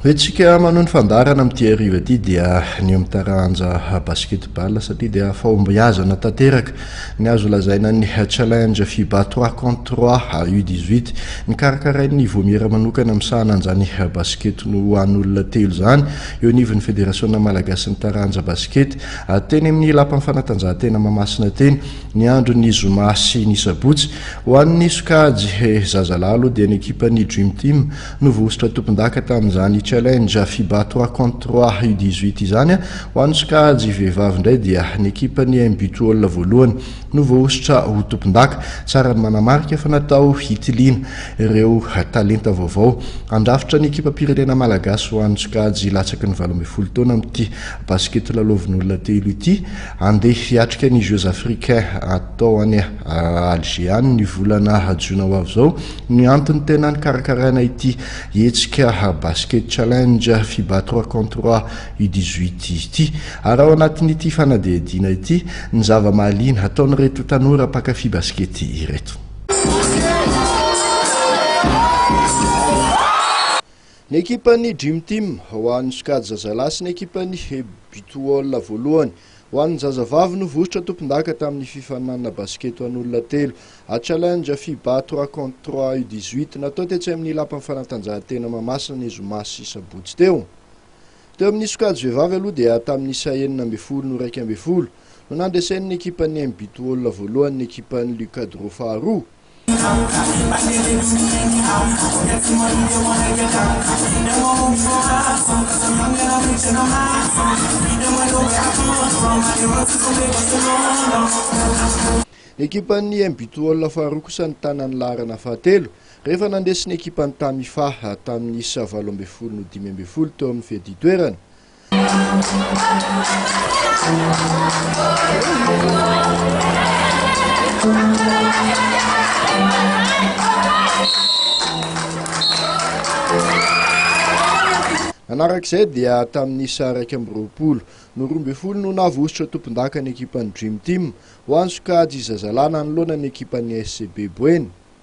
Hoe tsika manohy ny fandaharana amin'ity hariva ity dia ny eo amin'ny taranja basketball satria dia fahombiazana tanteraka ny azo lazaina ny challenge FIBA 3 contre 3 U18 nikarakarain'ny Vomiera manokana misahana an'izany basket no ho an'olona telo izany eo anivon'ny Federasiona Malagasy ny taranja basket teny amin'ny lapan'ny fanatanjahantena Mamasina teny ny andron'ny zoma sy ny sabotsy. Ho an'ny sokajy zazalahy aloha dia ny ekipan'ny Dream Team no voahosotra tompondaka tamin'izany Challenge Fiba trois contre trois U dix huit izany. Ho an'ny sokajy vehivavy indray dia ny ekipan'ny MB Twol voalohany no voahosotra ho tompondaka. Tsara ny manamarika fa natao hitiliana ireo talenta vaovao handrafitra ny ekipam-pirenena malagasy ho an'ny sokajy latsaky ny valo ambin'ny folo taona amin'ity basikety lalaovin'olona telo ity. Handeha hiatrika ny Jeux Africains atao any Alger any ny volana jona ho avy izao ny antony tena nikarakaraina ity hetsika Basket Challenge Fiba Trois Contre Trois U dix huit ity. Ary ao anatin'ity fanadihadiana ity ny zava-mahaliana ataon'ireto tanora mpankafy baskety ireto. Ny ekipan'ny Dream Team ho an'ny sokajy zazalahy sy ny ekipan'ny Butwall voalohany ho an'ny zazavavy no vositra tompondaka tamin'ny fifaninanana basketo an'olona telo, A-Challenge Fiba trois contre trois U dix-huit, natao tetsy amin'ny Lapan'ny Fanatanjahantena Mahamasina ny zoma sy sabotsy teo. Teo amin'ny sokajy vehivavy aloha dia tamin'ny isa enina ambin'ny folo no iraika ambin'ny folo no nandresen'ny ekipan'ny MButwall voalohany ny ekipan'ny Lucadro faharoa, Ny ekipan'ny MB Toaola faharoa kosa nitana ny laharana fahatelo rehefa nandresy ny ekipan'ny Tamifa tamin'ny isa valo ambin'ny folo no dimy ambin'ny folo teo amin'ny fedin-toerana. Nanarak'izay dia tamin'ny isa iraika amby roapolo no roa ambin'ny folo no navositra tompondaka ny ekipan'ny Dream Team ho an'ny sokajy zazalahy nanoloana ny ekipan'ny SCB Boeny.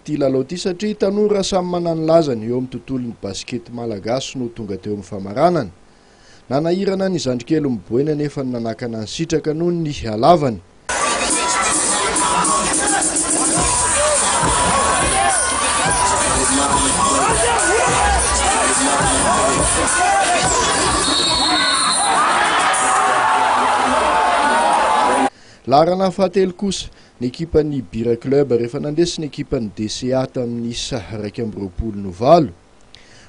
Ity lalao ity satria tanora samy manana ny lazany eo amin'ny tontolon'ny basikety malagasy no tonga teo amin'ny famaranana. Nanahirana ny zandrikely miboena anefa ny nanakana ny sitraka noho ny halavany. Laharana fahatelo kosa, Ny ekipan'ny Bira Club rehefa nandresy ny ekipan'ny DCA tamin'ny isa iraika amby roapolo no valo.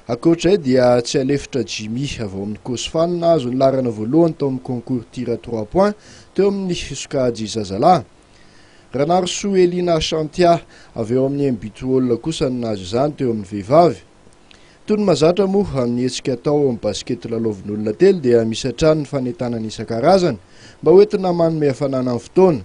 Ankoatra izay dia tsy alefitra Jimmy avy ao amin'ny Cosfan nahazo ny laharana voalohany tao amin'ny concours tir à trois points teo amin'ny sokajy zazalahy. Ranarisoa Elina Shantia avy ao amin'ny Mbitwall kosa no nahazo izany teo amin'ny vehivavy. Toy ny mahazatra moa amin'ny hetsika atao ao amin'ny basket lalaovin'olona telo dia misy hatrany ny fanentanana isan-karazany mba hoentina manome hafanana ny fotoana.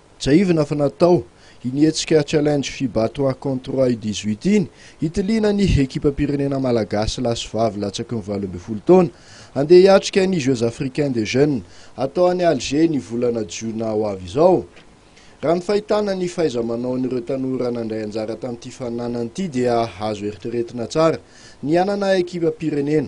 Tsiahivina fa natao iny hetsika Challenge Fiba Toi Contre Toi dix-huit iny hitiliana ny ekipam-pirenena malagasy lahy sy vavy latsaky ny valo ambin'ny folo taona handeha hiatrika ny Jeux Africains des Jeunes atao any Alger ny volana jiona ho avy izao. Raha ny fahitana ny fahaiza-manaon'ireo tanora nandray anjara tamin'ity faninanana ity dia azo eritreretina tsara ny hanana ekipam-pirenena